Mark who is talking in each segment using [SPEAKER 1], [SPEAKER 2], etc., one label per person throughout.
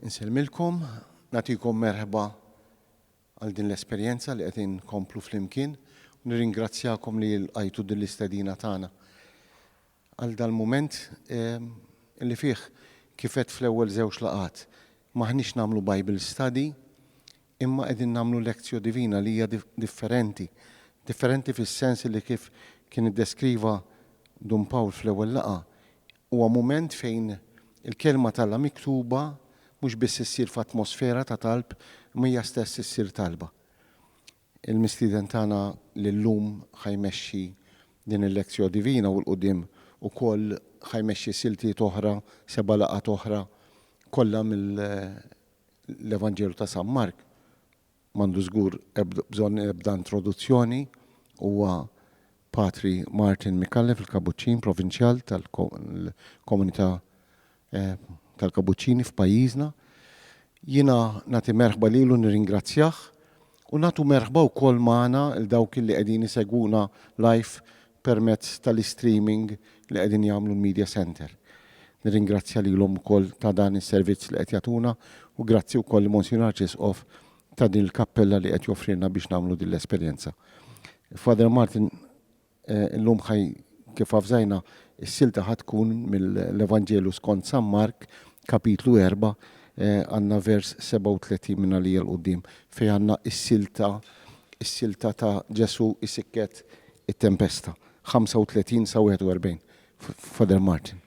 [SPEAKER 1] Insellmilkom, nagħtikom merħba għal din l-esperjenza li qed inkomplu flimkien u nirringrazzjakom li lqajtu din l-istedina tagħna għal dal-mument ehm, li fih kifet fl-ewwel żewġ laqgħat maħniex nagħmlu Bible study imma qegħdin nagħmlu lectio divina li hija differenti, differenti fis-sens li kif kien iddeskriva Dun Pawl fl-ewwel laqgħa, huwa mument fejn il-Kelma t'Alla miktuba mhux biss issir f'atmosfera ta' talb imma hija stess issir talba. Il-mistieden tagħna li llum ħa jmexxi din il-lectio divina u 'l quddiem ukoll ħa jmexxi siltiet oħra, seba' laqgħat oħra, kollha L-Evanġelu ta' San Mark m'għandu żgur bżonn ebda introduzzjoni, huwa Patri Martin Micallef il-Kabuċċin Provinċjal tal-Komunità tal-Kabuċċini f'pajjiżna. Jiena nagħti merħba lilu u nirringrazzjah u nagħtu merħba wkoll magħna 'l dawk li qegħdin isegwuna live permezz tal-istreaming li qegħdin jagħmlu l-Media Centre. Nirringrazzja lilhom ukoll ta' dan is-servizz li qed jagħtuna u grazzi wkoll lil Monsinjur Arċisqof ta' din il-kappella li qed joffrilna biex nagħmlu din l-esperjenza. Father Martin eh, illum ħaj kif avżajna s-silta ħad tkun mill-Evanġelu skont San Mark kapitlu 4 eh, għandna vers 37 minn għalija l-qudiem fejn għandna s-silta is-silta ta' Ġesu isikket it-tempesta, 35 sa 41, Father Martin.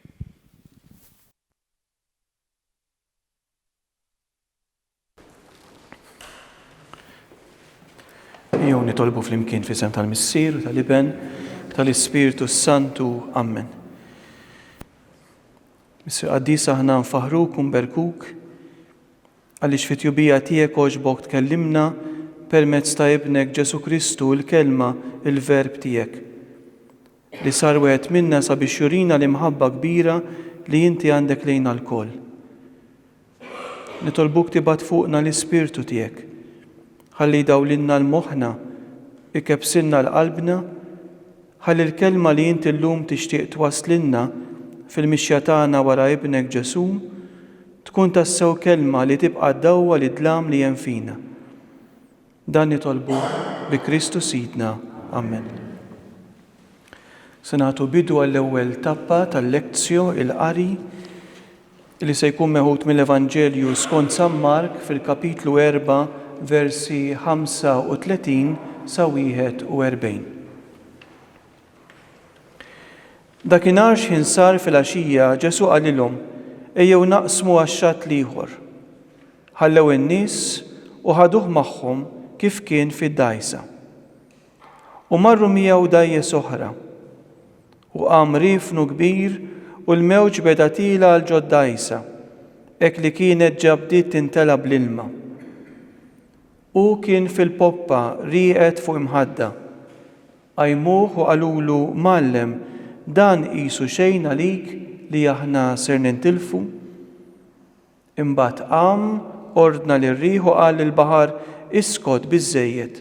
[SPEAKER 1] Ejjew nitolbu flimkien fl-isem tal-Missier, tal-Iben, tal-Ispirtu s-Santu. Amen. Missier Qaddis aħna nfaħruk u nberkuk Għaliex fit-tjubija tiegħek għoġbok tkellimna permezz ta' Ibnek Ġesù Kristu, il-Kelma, il-Verb tiegħek, li sar wieħed minna sabiex jurina l-imħabba kbira li inti għandek lejna lkoll. Nitolbuk tibgħat fuqna l-Ispirtu tiegħek, ħalli jdawlilna l-moħħna, ikebbsilna l-qalbna, Ħalli l-kelma li inti llum tixtieq twasslilna fil-mixja tagħna wara Ibnek Ġesù tkun tassew kelma li tibqa' dawwa lid-dlam li hemm fina. Dan nitolbu bi Kristu Sidna. Amen. Se nagħtu bidu għall-ewwel tappa tal-Lectio, il-qari. li se jkun meħud mill-Evanġelju skont San Mark fil-kapitlu erbgħa versi 35 sa 41. Dakinhar x'ħin sar filgħaxija Ġesù qalilhom, Ejjew naqsmu għax-xatt l-ieħor. Ħallew in-nies u ħaduh magħhom kif kien fid-dgħajsa. U marru miegħu dgħajjes oħra. U qam riefnu kbir, u l-mewġ beda tiela' għal ġod dgħajsa, hekk li kienet ġa bdiet tintela' bl-ilma. Hu kien fil-poppa rieqed fuq imħadda. Qajmuh u qalulu, Mgħallem, dan qisu xejn għalik li aħna ser nintilfu? Imbagħad qam, ordna lir-riħ u qal lill-baħar, Iskot biżżejjed!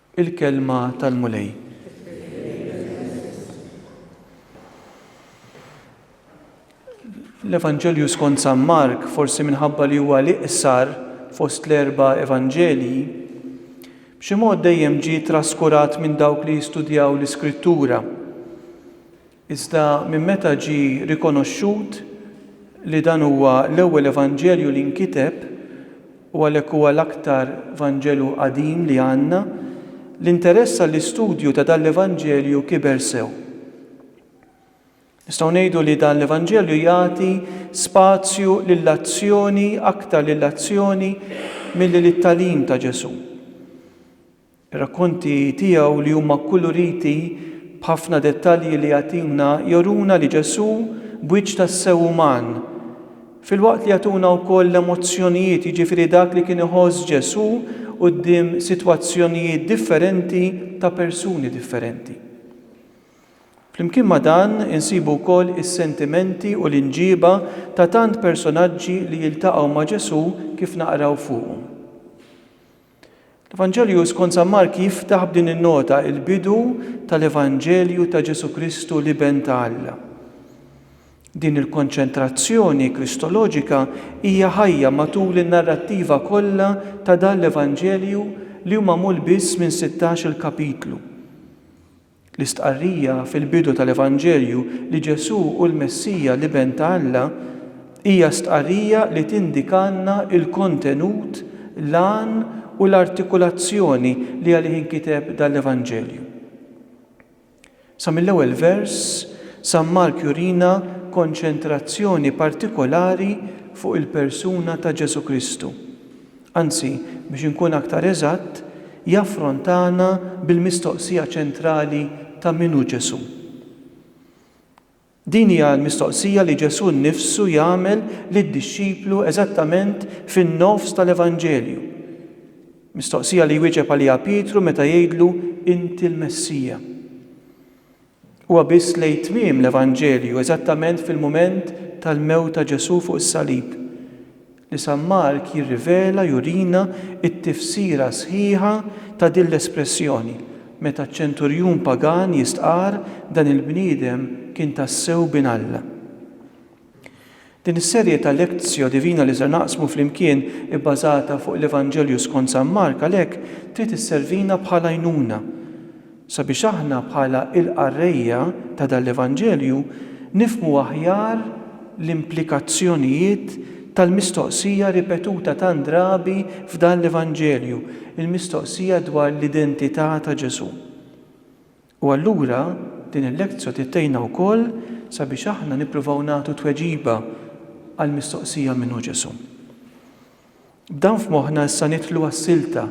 [SPEAKER 1] Il-Kelma tal-Mulej. L-Evanġelju skont San Mark, forsi minħabba li huwa l-iqsar fost l-erba' Evanġelji, b'xi mod dejjem ġie traskurat minn dawk li jistudjaw l-Iskrittura. Iżda minn meta ġie rikonoxxut li dan huwa l-ewwel Evanġelju li nkiteb, u għalhekk huwa l-aktar Vanġelu qadim li għandna, l-interess għall-istudju ta' dan l-Evanġelju kiber sew. Nistgħu ngħidu li dan l-Evanġelju jagħti spazju lill-azzjoni aktar lill-azzjoni milli lit-tagħlim ta' Ġesù. Ir-rakkonti tiegħu li huma kkuluriti b'ħafna dettalji li jagħtina joruna li Ġesù b'wiċċ tassew uman, filwaqt li jagħtuna wkoll l-emozzjonijiet, jiġifieri dak li kien iħoss Ġesù quddiem sitwazzjonijiet differenti ta' persuni differenti. Flimkien ma' dan insibu wkoll is-sentimenti u l-imġiba ta' tant personaġġi li jiltaqgħu ma' Ġesù kif naqraw fuqhom. L-Evanġelju skont San Mark jiftaħ b'din in-nota, il-bidu tal-Evanġelju ta' Ġesù Kristu l-Iben ta' Alla. Din il-konċentrazzjoni kristoloġika hija ħajja matul in-narrattiva kollha ta' dan l-Evanġelju li hu magħmul biss minn sittax-il kapitlu. L-istqarrija fil-bidu tal-Evanġelju li Ġesù hu l-Messija, l-Iben ta' Alla, hija stqarrija li tindikalna l-kontenut, l-għan u l-artikulazzjoni li għalih inkiteb dan l-Evanġelju. Sa mill-ewwel vers, San Mark jurina konċentrazzjoni partikolari fuq il-persuna ta' Ġesù Kristu, Anzi, biex inkun aktar eżatt, jaffrontana bil-mistoqsija ċentrali ta' min hu Ġesù. Din hija l-mistoqsija li Ġesù nnifsu jagħmel lid-dixxiplu eżattament fin-nofs tal-Evanġelju, mistoqsija li jwieġeb għaliha Pietru meta jgħidlu, Inti l-Messija. Huwa biss lejn tmiem l-Evanġelju, eżattament fil-mument tal-mewt ta' Ġesù fuq is-salib, li San Mark jirrivela, jurina, t-tifsira sħiħa ta' din l-espressjoni, meta ċ-ċenturjun pagan jistqarr, Dan il-bniedem kien tassew Bin Alla. Din is-serje ta' lectio divina li ser naqsmu flimkien, ibbażata fuq l-Evanġelju skont San Mark għalhekk trid isservina bħala għajnuna sabiex aħna bħala il-qarrejja ta' dan l-Evanġelju nifhmu aħjar l-implikazzjonijiet tal-mistoqsija ripetuta tant drabi f'dan l-Evanġelju, il-mistoqsija dwar l-identità ta' Ġesù. U allura din il-lektjo trid tgħinna wkoll sabiex aħna nippruvaw nagħtu tweġiba għall-mistoqsija min hu Ġesù. B'dan f'moħħna issa nidħlu għas-silta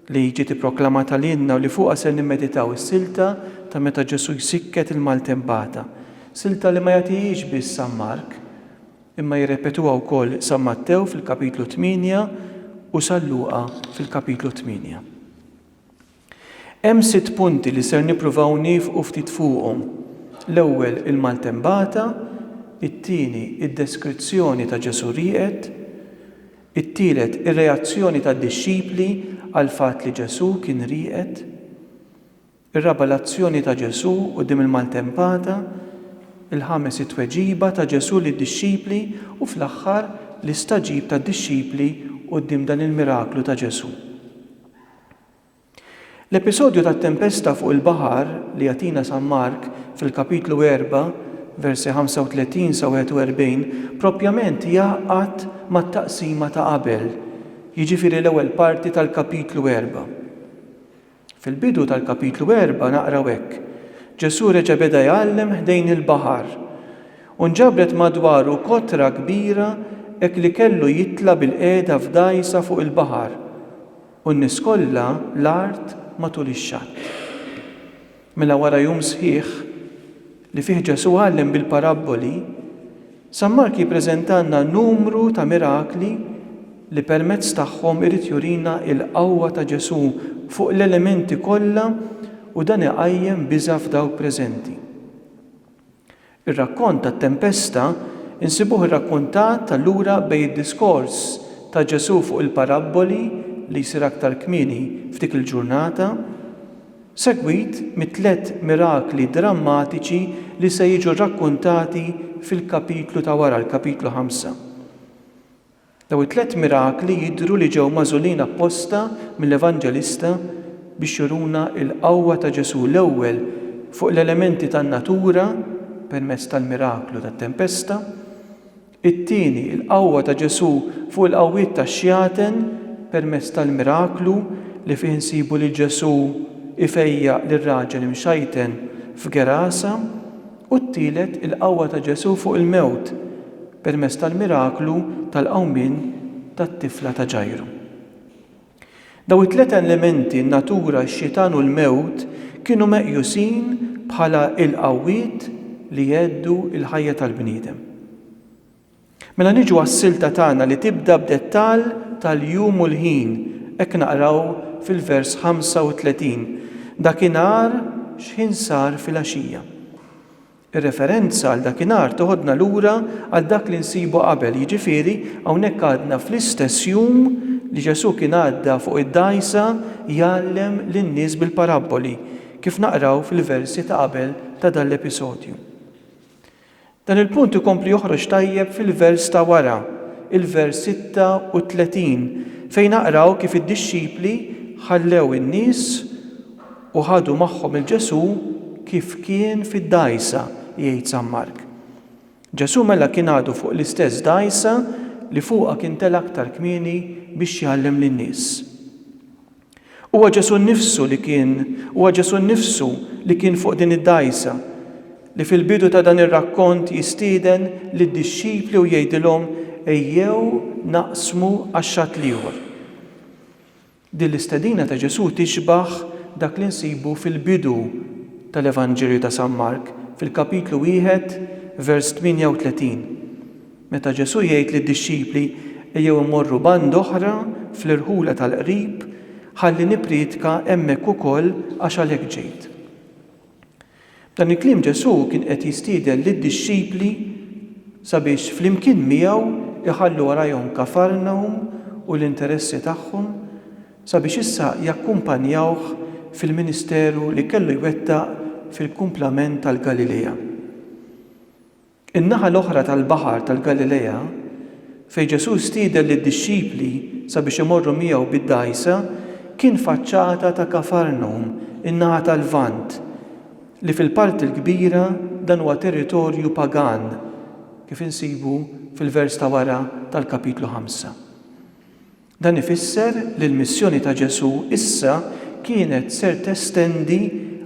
[SPEAKER 1] li ġiet ipproklamata lilna u li fuqha ser nimmeditaw, is-silta ta' meta Ġesù jsikket il-maltempata, silta li ma jagħtihiex biss San Mark, imma jirrepetuha wkoll San Mattew fil-Kapitlu tmienja u San Luqa fil-Kapitlu tmienja. Hemm sitt punti li ser nippruvaw niefqu ftit fuqhom. L-ewwel il-maltembata, it-tieni id-deskrizzjoni ta' Ġesù rieqed, it-tielet ir-reazzjoni tad-dixxipli għall-fatt li Ġesù kien rieqed, ir-raba' l-azzjoni ta' Ġesù quddiem il-maltempata, il-ħames it-tweġiba ta' Ġesù lid-dixxipli u fl-aħħar l-istagħġib tad-dixxipli quddiem dan il-miraklu ta' Ġesù. L-episodju tat-tempesta fuq il-baħar li jagħtina San Mark fil-Kapitlu erbgħa, versi 35 sa 41, proprjament jgħaqqad mat-taqsima ta' qabel, jiġifieri l-ewwel parti tal-Kapitlu erbgħa. Fil-bidu tal-Kapitlu erbgħa naqraw hekk, Ġesù reġa' beda jgħallem ħdejn il-baħar, u nġabret madwaru kotra kbira hekk li kellu jitla' bilqiegħda f'dgħajsa fuq il-baħar. U n-nies kollha l-art matul ix-xatt. Mela wara jum sħiħ, li fih Ġesù għallem bil-parabboli, San Mark jippreżentalna numru ta' mirakli li permezz tagħhom irid jurina l-qawwa ta' Ġesù fuq l-elementi kollha u dan iqajjem biża' f'dawk preżenti. Ir-rakkont tat-tempesta nsibuh irrakkontat allura bejn id-diskors ta' Ġesù fuq il-parabboli li jsir aktar kmieni f'dik il-ġurnata, segwit mit-tliet mirakli drammatiċi li se jiġu rrakkuntati fil-kapitlu ta' wara, l-kapitlu ħamsa. Dawn it-tliet mirakli jidhru li ġew magħżulin apposta mill-Evanġelista biex juruna l-qawwa ta' Ġesù, l-ewwel fuq l-elementi tan-natura permezz tal-miraklu tat-tempesta, it-tieni l-qawwa ta' Ġesù fuq il-qawwiet tax-xjaten permezz tal-miraklu li fih insibu lil Ġesù jfejjaq lir-raġel imxajten f'Gerasa. U t-tielet, il-qawwa ta' Ġesù fuq il-mewt permezz tal-miraklu tal-qawmien tat-tifla ta' Ġajru. Dawn it-tliet elementi, n-natura, x-xitan u l-mewt, kienu meqjusin bħala l-qawwiet li jheddu l-ħajja tal-bniedem. Mela niġu għas-silta tagħna li tibda b'dettall tal-jum u l-ħin, hekk naqraw fil-vers 35, Dakinhar x'ħin sar filgħaxija? Ir-referenza għal dakinhar teħodna lura għal dak li nsibu qabel, jiġifieri hawnhekk għadna fl-istess jum li Ġesù kien għadda fuq id-dgħajsa jgħallem lin-nies bil-parabboli, kif naqraw fil-versi ta' qabel ta' dan l-episodju. Dan il-punt ikompli joħroġ tajjeb fil-vers ta' wara, il-vers 36, fejn naqraw kif id-dixxipli ħallew in-nies u ħadu magħhom 'il Ġesù kif kien fid-dgħajsa, jgħid San Mark. Ġesù mela kien għadu fuq l-istess dgħajsa li fuqha kien tela' aktar kmieni biex jgħallem lin-nies. Huwa Ġesù nnifsu li kien, huwa Ġesù nnifsu li kien fuq din id-dgħajsa, li fil-bidu ta' dan ir-rakkont jistieden lid-dixxipli u jgħidilhom ejjew naqsmu għax-xatt l-ieħor. Din l-istedina ta' Ġesù tixbah dak li nsibu fil-bidu tal-Evanġelju ta' San Mark, fil-kapitlu wieħed, vers 38. Meta Ġesù jgħid lid-dixxipli ejjew immorru band'oħra fl-irħula tal-qrib ħalli nippriedka hemmhekk ukoll għax għalhekk ġejt. B'dan il-kliem Ġesù kien qed jistieden lid-dixxipli sabiex flimkien miegħu jħallu warajhom Kafarnahum u l-interessi tagħhom sabiex issa jakkumpanjawh fil-ministeru li kellu jwettaq fil-kumplament tal-Galilea. In-naħa l-oħra tal-Baħar tal-Galilea, fejn Ġesù stieden lid-dixxipli sabiex imorru miegħu bid-dgħajsa, kien faċċata ta' Kafarnum, in-naħa tal-Lvant, li fil-parti l-kbira dan huwa territorju pagan, kif insibu fil-vers ta' wara tal-Kapitlu 5. Dan ifisser li l-missjoni ta' Ġesù issa kienet ser testendi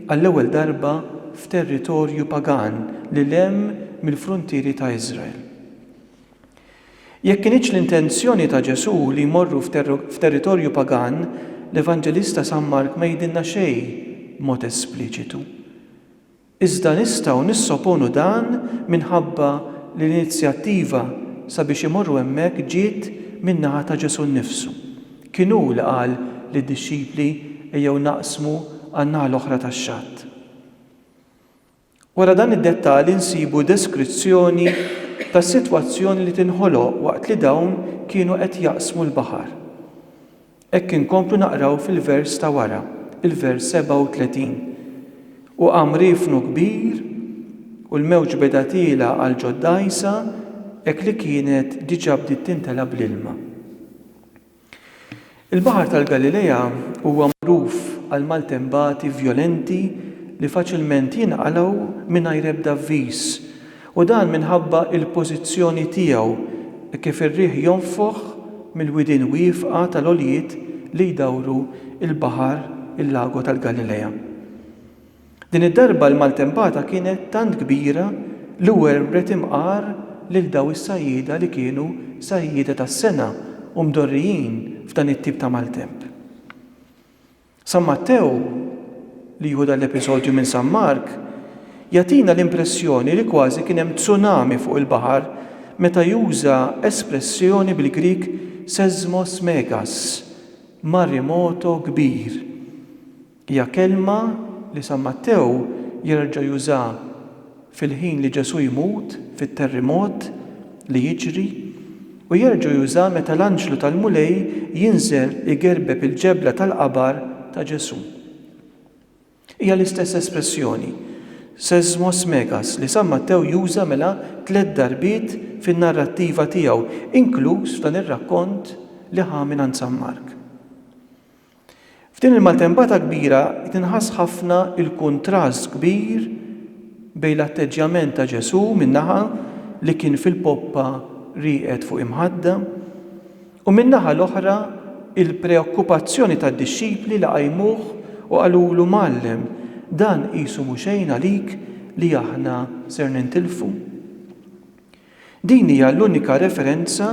[SPEAKER 1] għall-ewwel darba f'territorju pagan lil hemm mill-fruntieri ta' Iżrael. Jekk kinitx l-intenzjoni ta' Ġesù li jmorru f'territorju pagan, l-Evanġelista San Mark ma jgħidilna xejn b'mod espliċitu. Iżda nistgħu nissoponu dan minħabba li l-inizjattiva sabiex imorru hemmhekk ġiet min-naħa ta' Ġesù nnifsu. Kien hu li qal lid-dixxipli ejjew naqsmu għan-naħa l-oħra tax-xatt. Wara dan id-dettall insibu deskrizzjoni tas-sitwazzjoni li tinħoloq waqt li dawn kienu qed jaqsmu l-baħar. Hekk inkomplu naqraw fil-vers ta' wara, il-vers 37, U qam riefnu kbir, u l-mewġ beda tiela' għal ġod dgħajsa, hekk li kienet diġà bdiet timtela' bl-ilma. Il-Baħar tal-Galilea huwa magħruf għall-maltempati vjolenti li faċilment jinqalgħu mingħajr ebda avviż, U dan minħabba l-pożizzjoni tiegħu kif ir-riħ jonfoħ mill-widien wiefqa tal-għoljiet li jdawru l-baħar il-Lago tal-Galilea. Din id-darba l-maltempata kienet tant kbira li werwret imqar lil daw is-sajjieda li kienu sajjieda tas-sengħa u mdorrijin f'dan it-tip ta' maltemp. San Mattew, li jieħu dan l-episodju minn San Mark, jagħtina l-impressjoni li kważi kien hemm tsunami fuq il-baħar meta juża espressjoni bil-Grieg seismos megas, marimoto kbir. Hija kelma li San Mattew jerġa' juża fil-ħin li Ġesù jmut fit-terrimot li jiġri u jerġgħu jużah meta l-anġlu tal-Mulej jinżel igerbeb il-ġebla tal-qabar ta' Ġesù. Hija l-istess espressjoni, seismos megas, li San Mattew juża mela tliet darbiet fin-narrattiva tiegħu, inkluż f'dan ir-rakkont li ħa mingħand San Mark. F'din il-maltempata kbira tinħass ħafna l-kuntrast kbir bejn l-atteġġjament ta' Ġesù minn naħa li kien fil-poppa rieqed fuq imħadda u min-naħa l-oħra il-preokkupazzjoni tad-dixxipli li qajmuh u qalulu Mgħallem, dan qisu mhu xejn għalik li aħna ser nintilfu. Din hija l-unika referenza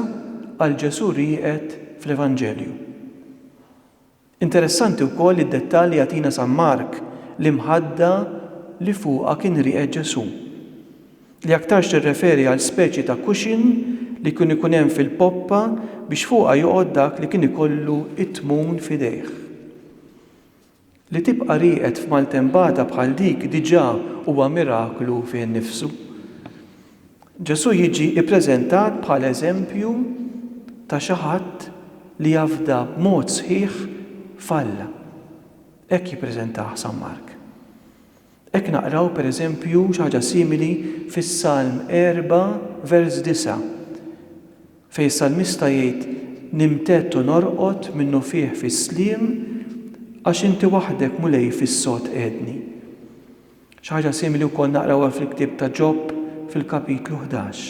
[SPEAKER 1] għal Ġesù rieqed fl-Evanġelju. Interessanti wkoll id-dettall li jagħtina San Mark, l-imħadda li fuqha kien rieqed Ġesù, li aktarx tirreferi għal speċi ta' cushion li kien ikun hemm fil-poppa biex fuqha joqgħod dak li kien ikollu t-tmun f'idejh. Li tibqa' rieqed f'maltempata bħal dik diġà huwa miraklu fih innifsu. Ġesù jiġi ppreżentat bħala eżempju ta' xi ħadd li jafda b'mod sħiħ f'Alla. Hekk jippreżentah San Mark. Hekk naqraw, per eżempju, xi ħaġa simili fis-Salm 4, vers 9, fejn is-salmista jgħid, Nimtedd u norqod minnufih fis-sliem, għax Inti waħdek, Mulej, fis-sod qegħedni. Xi ħaġa simili wkoll naqrawha fil-ktieb ta' Ġob fil-kapitlu ħdax.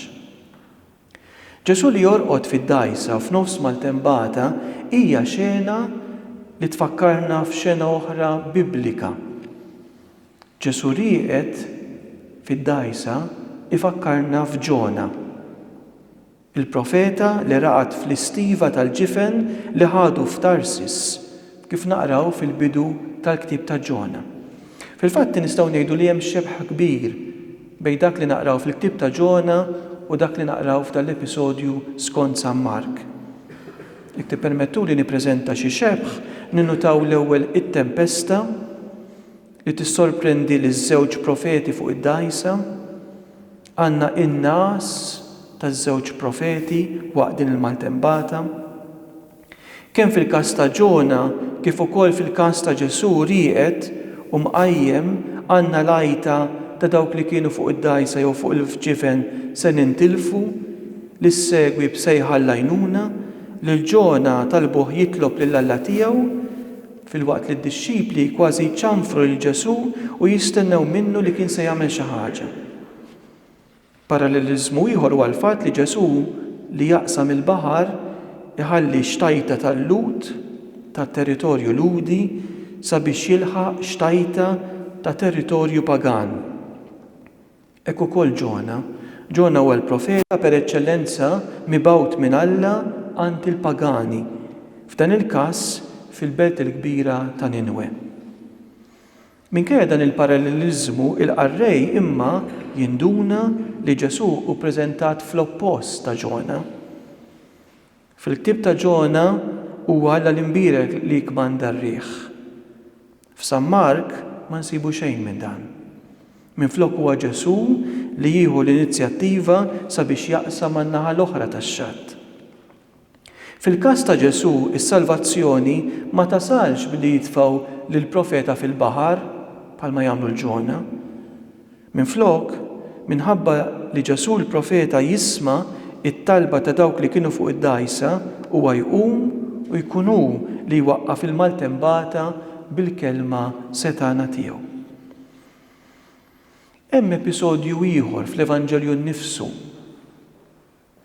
[SPEAKER 1] Ġesù li jorqod fid-dgħajsa f'nofs maltempata hija xena li tfakkarna f'xena oħra Biblika. Ġesù rieqed fid-dgħajsa jfakkarna f'Ġona, il-profeta li raqad fl-istiva tal-ġifen li ħadu f'Tarsis kif naqraw fil-bidu tal-ktieb ta' Ġona. Fil-fatt nistgħu ngħidu li hemm xebh kbir bejn dak li naqraw fil-ktieb ta' Ġona u dak li naqraw f'dan l-episodju skont San Mark. Jekk tippermettuli nippreżenta xi xebh, ninnutaw l-ewwel it-tempesta li tissorprendi liż-żewġ profeti fuq id-dgħajsa. Għandna in-ngħas taż-żewġ profeti waqt din il-maltembata. Kemm fil-każ ta' Ġona kif ukoll fil-każ ta' Ġesù rieqed u mqajjem għandna l-għajta ta' dawk li kienu fuq id-dgħajsa jew fuq il-ġifen se nintilfu, li ssegwi b'sejħa għall-għajnuna. Lil Ġona talbuh jitlob lil Alla tiegħu, filwaqt li d-dixxipli kważi jċanfru lil Ġesù u jistennew minnu li kien se jagħmel xi ħaġa. Paralleliżmu ieħor huwa l-fatt li Ġesù li jaqsam il-baħar iħalli xtajta tal-Lhud ta' territorju Lhudi sabiex jilħaq xtajta ta' territorju pagan. Hekk ukoll Ġona. Ġona huwa l-profeta per eċċellenza mibgħut minn Alla għand il-pagani, f'dan il-każ fil-belt il-kbira ta' Ninwe. Minkejja dan il-paralleliżmu, il-qarrej imma jinduna li Ġesù hu ppreżentat fl-oppost ta' Ġona. Fil-ktieb ta' Ġona huwa Alla l-imbierek li jikkmanda r-riħ. F'San Mark ma nsibu xejn minn dan. Minflok huwa Ġesù li jieħu l-inizjattiva sabiex jaqsam għan-naħa l-oħra tax-xatt. Fil-każ ta' Ġesù, is-salvazzjoni ma tasalx billi jitfgħu lill-profeta fil-baħar, bħalma jagħmlu l-Ġona. Minflok, minħabba li Ġesù l-profeta jisma' t-talba ta' dawk li kienu fuq id-dgħajsa, huwa jqum u jkun hu li jwaqqaf il-maltembata bil-kelma setgħana tiegħu. Hemm episodju ieħor fl-Evanġelju nnifsu.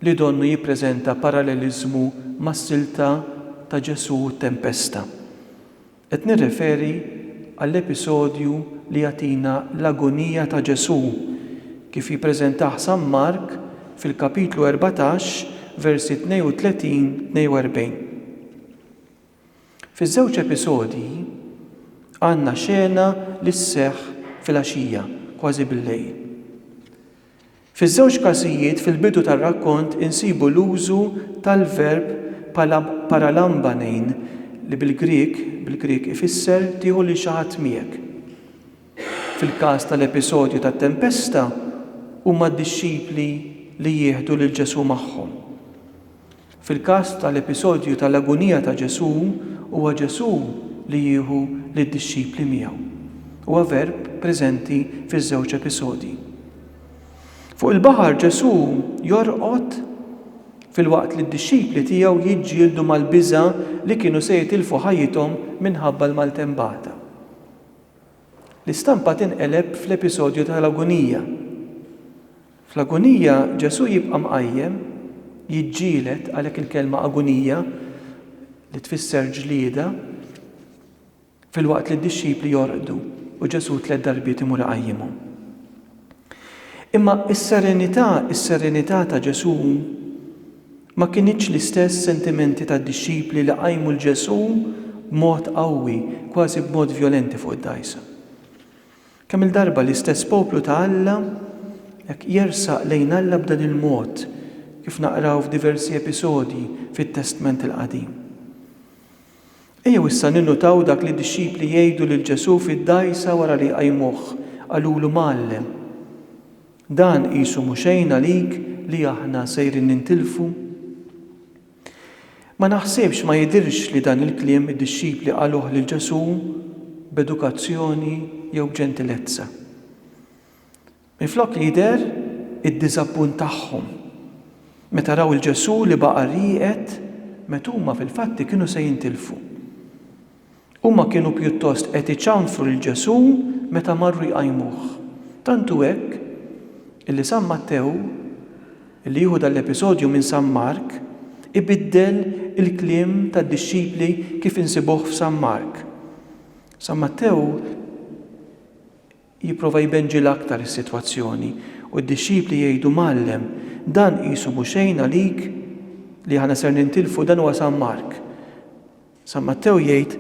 [SPEAKER 1] li donnu jippreżenta paralleliżmu mas-silta ta' Ġesù u t-tempesta. Qed nirreferi għall-episodju li jagħtina l-agonija ta' Ġesù, kif jippreżentah San Mark fil-kapitlu erbatax, versi 32, 42. Fiż-żewġ episodji, għandna xena li sseħħ filgħaxija, kważi bil-lejl. Fiż-żewġ każijiet fil-bidu tar-rakkont insibu l-użu tal-verb pala paralamba nein li bil-Grieg, bil-Grieg, ifisser tieħu lil xi ħadd miegħek. Fil-każ tal-episodju tat-tempesta, huma d-dixxipli li jieħdu lil Ġesù magħhom. Fil-każ tal-episodju tal-agunija ta' Ġesù, huwa Ġesù li jieħu lid-dixxipli miegħu. Huwa verb preżenti fiż-żewġ episodji. Fuq il-baħar Ġesù jorqod filwaqt li d-dixxipli tiegħu jiġġieldu mal-biża' li kienu se jitilfu ħajjithom minħabba l-maltempata. L-istampa tinqeleb fl-episodju tal-agunija. Fl-agunija Ġesù jibqa' mqajjem, jiġġieled, għalhekk il-kelma agunija, li tfisser ġlieda, filwaqt li d-dixxipli jorqdu u Ġesù tliet darbiet imur iqajjimhom. Imma s-serenità, is-serenità ta' Ġesù ma kinitx l-istess sentimenti tad-dixxipli li qajmu 'l Ġesù b'mod qawwi, kważi b'mod vjolenti fuq id-dgħajsa. Kemm-il darba l-istess poplu ta' Alla hekk jersaq lejn Alla b'dan il-mod, kif naqraw f'diversi episodji fit-Testment il-Qadim. Ejjew issa ninnutaw dak li d-dixxipli jgħidu lil Ġesù fid-dgħajsa wara li jqajmuh, qalulu Mgħallem, dan qisu mhu xejn għalik li aħna sejrin nintilfu? Ma naħsibx, ma jidhirx li dan il-kliem id-dixxipli qaluh lil Ġesù b'edukazzjoni jew b'ġentilezza. Minflok jidher id-diżappunt tagħhom meta raw 'l Ġesù li baqa' rieqed meta huma fil-fatti kienu se jintilfu. Huma kienu pjuttost qed iċanfru lil Ġesù meta marru jqajmuh. Tant hu hekk illi San Mattew, li jieħu dan l-episodju minn San Mark, ibiddel il-kliem tad-dixxipli kif insibuh f'San Mark. San Mattew jipprova jbenġilha aktar is-sitwazzjoni u d-dixxipli jgħidu, Mgħallem, dan qisu mhu xejn għalik li aħna ser nintilfu dan huwa San Mark. San Mattew jgħid,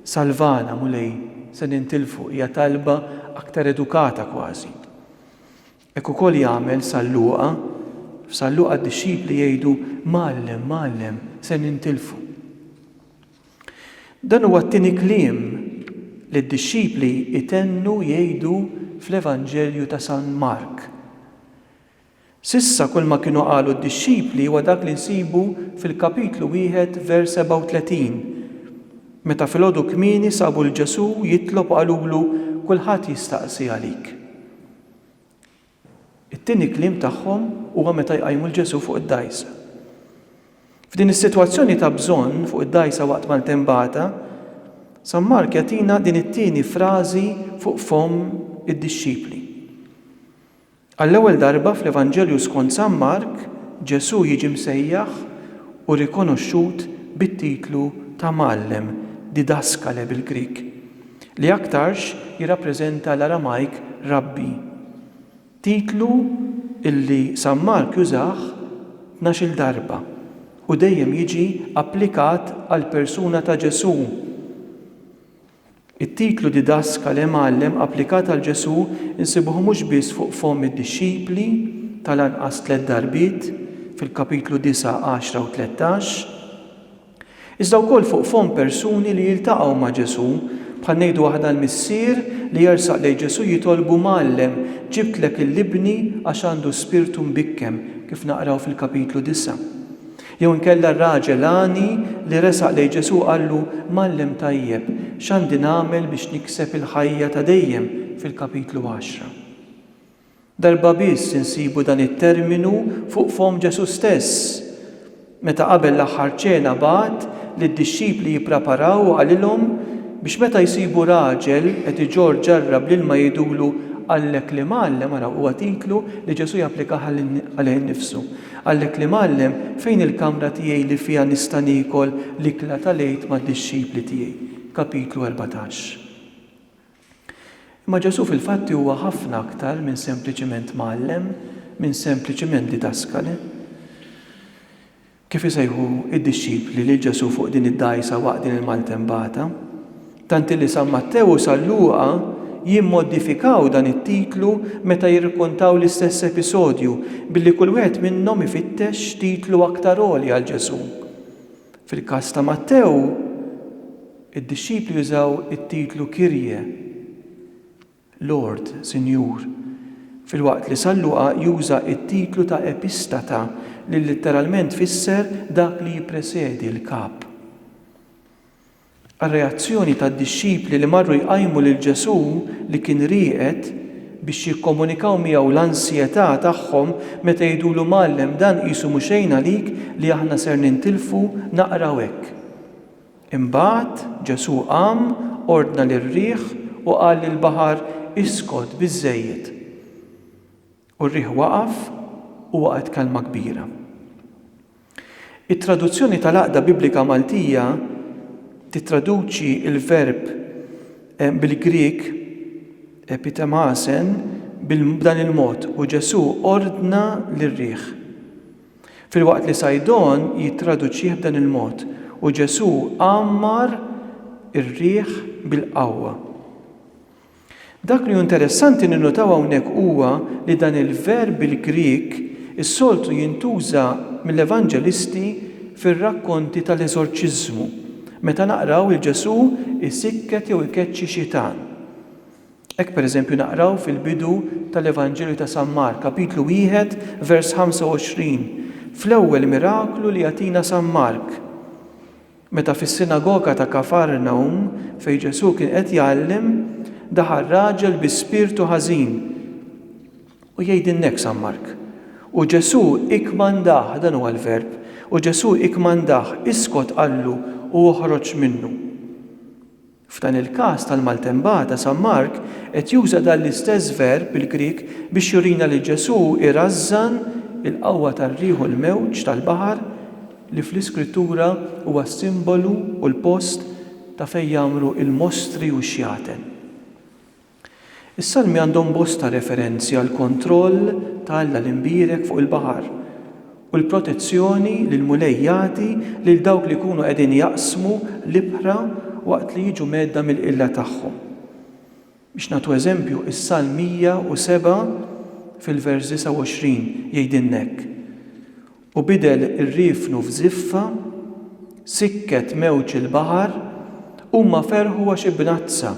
[SPEAKER 1] Salvana, Mulej, se nintilfu, hija talba aktar edukata kważi. Hekk ukoll jagħmel San Luqa, f'San Luqa d-dixxipli jgħidu, Mgħallem, Mgħallem, se nintilfu. Dan huwa t-tieni kliem li d-dixxipli jtennu jgħidu fl-Evanġelju ta' San Mark. S'issa kulma kienu qalu d-dixxipli huwa dak li nsibu fil-kapitlu wieħed vers 37, meta filgħodu kmieni sabu 'l Ġesù jitlob u qalulu, Kulħadd jistaqsi għalik. It-tieni kliem tagħhom huwa meta jqajmu 'l Ġesù fuq id-dgħajsa. F'din is-sitwazzjoni ta' bżonn fuq id-dgħajsa waqt maltembata, San Mark jagħtina din it-tieni frażi fuq fomm id-dixxipli. Għall-ewwel darba fl-Evanġelju skont San Mark, Ġesù jiġi msejjaħ u rikonoxxut bit-titlu ta' Mgħallem, didaskale bil-Grieg, li aktarx jirrappreżenta l-Aramajk rabbi, titlu li San Mark jużah tnax-il darba u dejjem jiġi applikat għall-persuna ta' Ġesù. It-titlu didascale, mgħallem, applikat għal Ġesù nsibuh mhux biss fuq fomm id-dixxipli, tal-anqas tliet darbiet, fil-kapitlu disgħa, għaxra u tlettax, iżda wkoll fuq fomm persuni li jiltaqgħu ma' Ġesù, bħal ngħidu aħna l-missier li jersaq lejn Ġesù jitolbu, Mgħallem, ġibtlek 'l ibni għax għandu spirtu mbikkem, kif naqraw fil-kapitlu disgħa. Jew inkella r-raġel għani li resaq lejn Ġesù qallu, Mgħallem tajjeb, x'għandi nagħmel biex nikseb il-ħajja ta' dejjem fil-kapitlu għaxra? Darba biss insibu dan it-terminu fuq fomm Ġesù stess, meta qabel l-Aħħar Ċena bagħat lid-dixxipli jippraparaw u qalilhom biex meta jsibu raġel qed iġorr ġarra bl-ilma jgħidulu, Għallek li mgħallem, araw huwa titlu li Ġesù japplikah għalih innifsu. Għalhekk li mgħallem, fejn il-kamra tiegħi li fiha nista' niekol l-ikla tal-Għid mad-dixxipli tiegħi? Kapitlu erbatax. Imma Ġesù fil-fatti huwa ħafna aktar minn sempliċiment mgħallem, minn sempliċiment didaskale. Kif isejħu id-dixxipli lil Ġesù fuq din id-dgħajsa waqt din il-maltembata? tant li San Mattew u San Luqa jimmodifikaw dan it-titlu meta jirrkontaw l-istess episodju, billi kull wieħed minnhom ifittex x'titlu aktar għoli għal Ġesù. Fil-każ ta' Mattew, id-dixxipli jużaw it-titlu Kyrie, Lord, Sinjur, filwaqt li San Luqa juża t-titlu ta' Epistata, li litteralment tfisser dak li jippresedi, l-kap. għar-reazzjoni tad-dixxipli li marru jqajmu lil Ġesù li kien rieqed biex jikkomunikaw miegħu l-ansjetà tagħhom meta jgħidulu Mgħallem dan qisu mhu xejn għalik li aħna ser nintilfu naqraw hekk. Imbagħad Ġesù qam, ordna lir-riħ u qal lill-baħar iskot biżżejjed. U r-riħ waqaf u waqgħet kelma kbira. It-Traduzzjoni tal-Għaqda Biblika Maltija tittraduċi l-verb bil-Grieg epitemasen b'dan il-mod, u Ġesù ordna lir-riħ. Filwaqt li Sajdon jittraduċih b'dan il-mod, u Ġesù għammar ir-riħ bil-qawwa. Dak li hu interessanti ninnutaw hawnhekk huwa li dan il-verb bil-Grieg is-soltu jintuża mill-Evanġelisti fir-rakkonti tal-eżorċiżmu, meta naqraw lil Ġesù jsikket jew ikeċċi xitan. Hekk pereżempju naqraw fil-bidu tal-Evanġelju ta' San Mark, kapitlu wieħed, vers 25, fl-ewwel miraklu li jagħtina San Mark. Meta fis-sinagoga ta' Kafarnawm, fejn Ġesù kien qed jgħallem, daħal raġel bi spirtu ħażin. U jgħidilna hekk San Mark, U Ġesù ikkmandah, dan huwa l-verb, u Ġesù ikkmandah, Iskot, qallu, u oħroġ minnu. F'dan il-każ tal-maltembata, San Mark qed juża dan l-istess verb bil-Grieg biex jurina li Ġesù jrażżan il-qawwa tar-riħ u l-mewġ tal-baħar li fl-Iskrittura huwa s-simbolu u l-post ta' fejn jgħammru l-mostri u x-xjaten. Is-Salmi għandhom bosta referenzi għall-kontroll ta' Alla l-Imbierek fuq il-baħar u l-protezzjoni li l-Mulej jagħti lil dawk li jkunu qegħdin jaqsmu l-ibħra waqt li jiġu mgħedda mill-qilla tagħhom. Biex nagħtu eżempju, is-Salm 107 fil-vers 29 jgħidilna hekk, U bidel riefnu f'żiffa, sikket mewġ il-baħar, huma ferħu għax ibnazza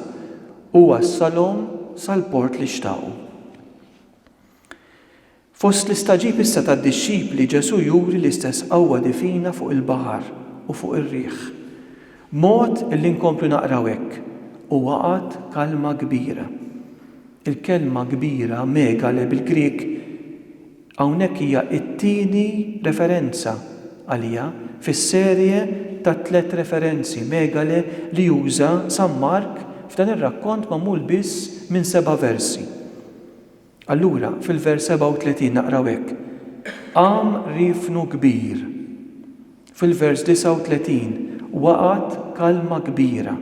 [SPEAKER 1] u wassalhom sal-port li xtaqu. Fost l-istagħġib issa tad-dixxipli, Ġesù juri l-istess qawwa divina fuq il-baħar u fuq ir-riħ, b'mod li nkomplu naqraw hekk, U waqgħet kalma kbira. Il-kelma kbira, megale bil-Grieg, Hawnhekk hija t-tieni referenza għaliha fis-serje ta' tliet referenzi megale li juża San Mark f'dan ir-rakkont magħmul biss minn seba' versi. Allura, fil-vers 37 naqraw hekk, Qam riefnu kbir. Fil-vers 39, Waqgħet kalma kbira.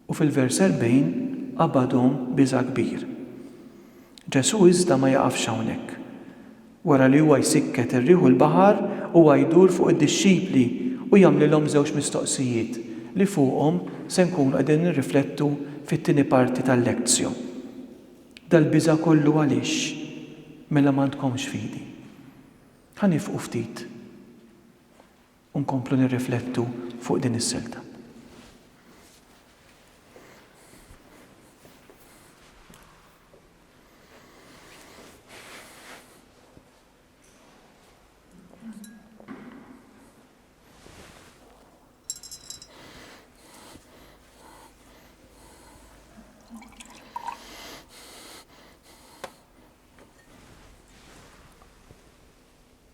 [SPEAKER 1] U fil-vers 40, Qabadhom biża' kbir. Ġesù iżda ma jaqafx hawnhekk. Wara li huwa jsikket ir-riħ u l-baħar, huwa jdur fuq id-dixxipli u jagħmlilhom żewġ mistoqsijiet li fuqhom se nkunu qegħdin nirriflettu fit-tieni parti tal-lectio. Dal-biża' kollu għaliex? Mela m'għandkomx fidi. Ħa nifqu ftit. u nkomplu nirriflettu fuq din is-silta.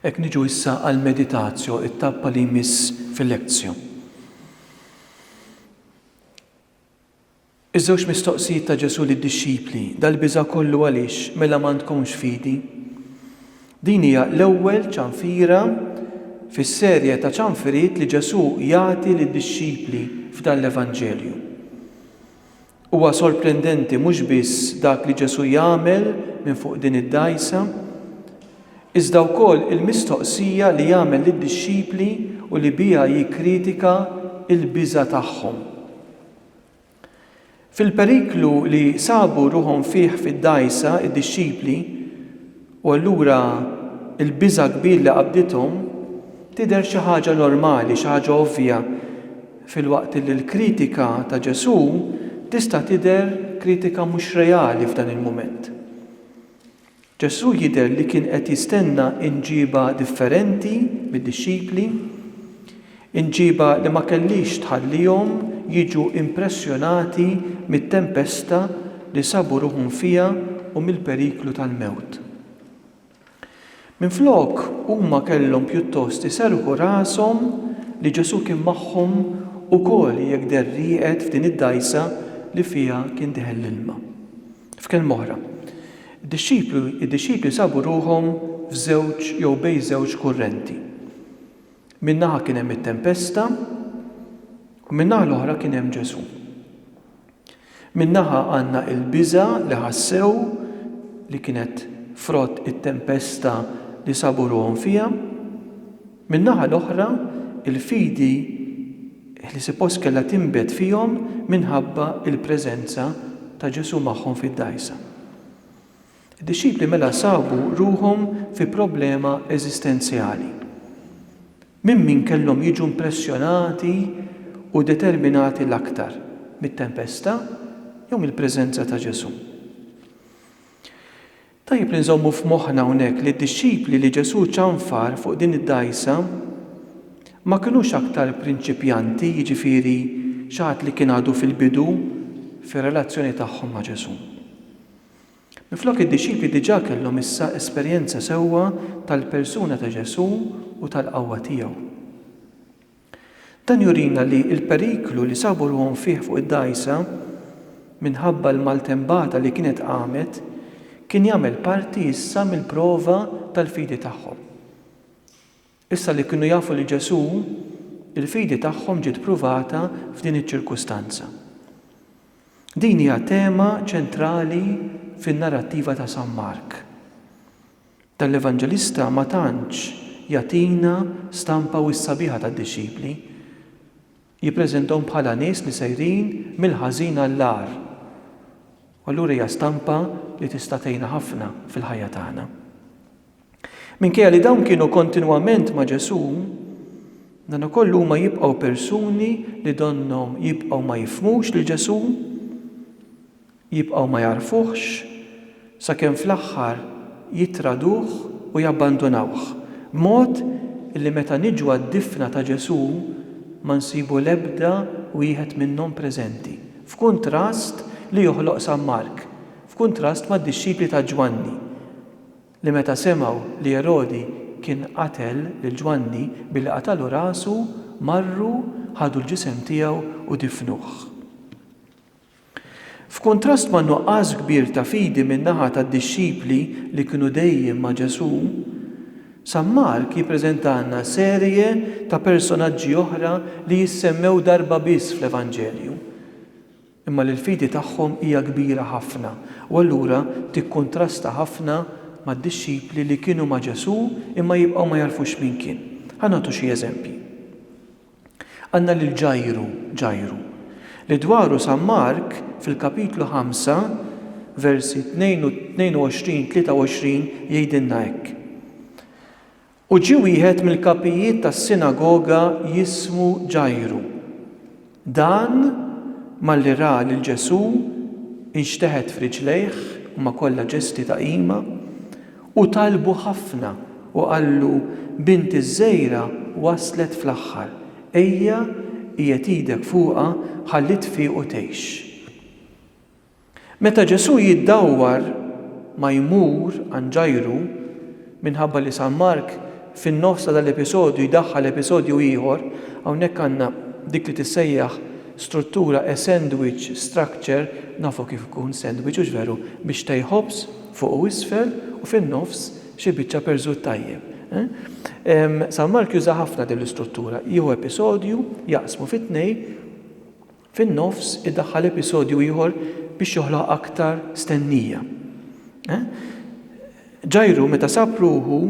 [SPEAKER 1] Ek niġu issa għal meditazjo it-tappa li jmiss fil-lekzjo. Iż-żewġ mistoqsijiet ta' Ġesù lid-dixxipli, Dal-biża' kollu għaliex, mela m'għandkomx fidi? Din hija l-ewwel ċanfira fis-serje ta' ċanfiriet li Ġesù jagħti lid-dixxipli f'dan l-Evanġelju. Huwa sorprendenti mhux biss dak li Ġesù jagħmel minn fuq din id-dgħajsa, iżda wkoll il-mistoqsija li jagħmel lid-dixxipli u li biha jikkritika l-biża' tagħhom. Fil-periklu li sabu ruħhom fih fid-dgħajsa d-dixxipli, u allura l-biża' kbir li qabdithom, tidher xi ħaġa normali, xi ħaġa ovvja, filwaqt li l-kritika ta' Ġesù tista' tidher kritika mhux reali f'dan il-mument. Ġesù jidher li kien qed jistenna imġiba differenti mid-dixxipli, imġiba li ma kellhiex tħallihom jiġu impressjonati mit-tempesta li sabu ruħhom fiha u mill-periklu tal-mewt. Minflok, huma kellhom pjuttost iserrħu rashom li Ġesù kien magħhom ukoll jekk deher rieqed f'din id-dgħajsa li fiha kien deħel l-ilma. F'kelma oħra, Id-dixxiplu, id-dixxipli sabu ruħhom f'żewġ jew bejn żewġ kurrenti. Minn naħa kien hemm it-tempesta u min-naħa l-oħra kien hemm Ġesù. Minn naħa għandna il-biża' li ħassew li kienet frott it-tempesta li sabu ruħhom fiha, Min-naħa l-oħra, il-fidi li sipost kellha tinbet fihom minħabba l-preżenza ta' Ġesù magħhom fid-dgħajsa. Id-dixxipli mela sabu ruħhom fi problema eżistenzjali. Minn min kellhom jiġu impressjonati u determinati l-aktar, mit-tempesta jew mill-preżenza ta' Ġesù? Tajjeb li nżommu f'moħħna hawnhekk li d-dixxipli li Ġesù ċanfar fuq din id-dgħajsa ma kinux aktar prinċipjanti, jiġifieri xi ħadd li kien għadu fil-bidu fir-relazzjoni tagħhom ma' Ġesù. Minflok id-dixxipli diġà kellhom issa esperjenza sewwa tal-persuna ta' Ġesù u tal-qawwa tiegħu. Dan jurina li l-periklu li sabu ruħhom fih fuq id-dgħajsa minħabba l-maltembata li kienet qamet kien jagħmel parti issa mill-prova tal-fidi tagħhom. Issa li kienu jafu lil Ġesù, il-fidi tagħhom ġiet pruvata f'din iċ-ċirkustanza. Din hija tema ċentrali fin-narrattiva ta' San Mark. Dan l-Evanġelista ma tantx jagħtina stampa wisq sabiħa tad-dixxipli. Jippreżentahom bħala nies li sejrin mill-ħażin għall-agħar. U allura hija stampa li tista' tgħinna ħafna fil-ħajja tagħna. Minkejja li dawn kienu kontinwament ma' Ġesù, dan ukoll huma jibqgħu persuni li donnhom jibqgħu ma jifhmux lil Ġesù. Jibqgħu ma jagħrfuhx sakemm fl-aħħar jittraduh u jabbandunawh, b'mod li meta niġu għad-difna ta' Ġesù ma nsibu l-ebda wieħed minnhom preżenti, f'kuntrast li joħloq San Mark, f'kuntrast mad-dixxipli ta' Ġwanni, li meta semgħu li Erodi kien qatel lil Ġwanni billi qatalu rasu, marru, ħadu l-ġisem tiegħu u difnuh. F'kuntrast man-nuqqas kbir ta' fidi min-naħa tad-dixxipli li kienu dejjem ma' Ġesù, San Mark jippreżentalna serje ta' personaġġi oħra li jissemmew darba biss fl-Evanġelju, imma li l-fidi tagħhom hija kbira ħafna u allura tikkuntrasta ħafna mad-dixxipli li kienu ma' Ġesù imma jibqgħu ma jagħrfux min kien. Ħa nagħtu xi eżempji. Għandna lil Ġajru, Ġajru, li dwaru San Mark fil-kapitlu 5, versi 22, 23 jgħidilna hekk, U ġie wieħed mill-kapijiet tas-sinagoga jismu Ġajru. Dan, malli ra lil Ġesù, inxteħet f'riġlejh, huma kollha ġesti ta' qima, U talbu ħafna u qallu, Bint iż-żgħira waslet fl-aħħar, ejja, qiegħed idek fuqha ħalli tfiq u tgħix. Meta Ġesù jiddawwar ma jmur għand Ġajru, minħabba li San Mark fin-nofs ta' dal-episodju jdaħħal episodju ieħor, hawnhekk għandna dik li tissejjaħ struttura a sandwich structure, nafu kif ikun sandwich hux veru, biex tej ħobż, Fuq u isfel u fin-nofs xi biċċa perżut tajjeb. San Mark juża ħafna din l-istruttura, jieħu episodju, jaqsmu fi tnejn, fin-nofs idaħħal episodju ieħor biex joħloq aktar stennija. Ġajru meta sab ruħu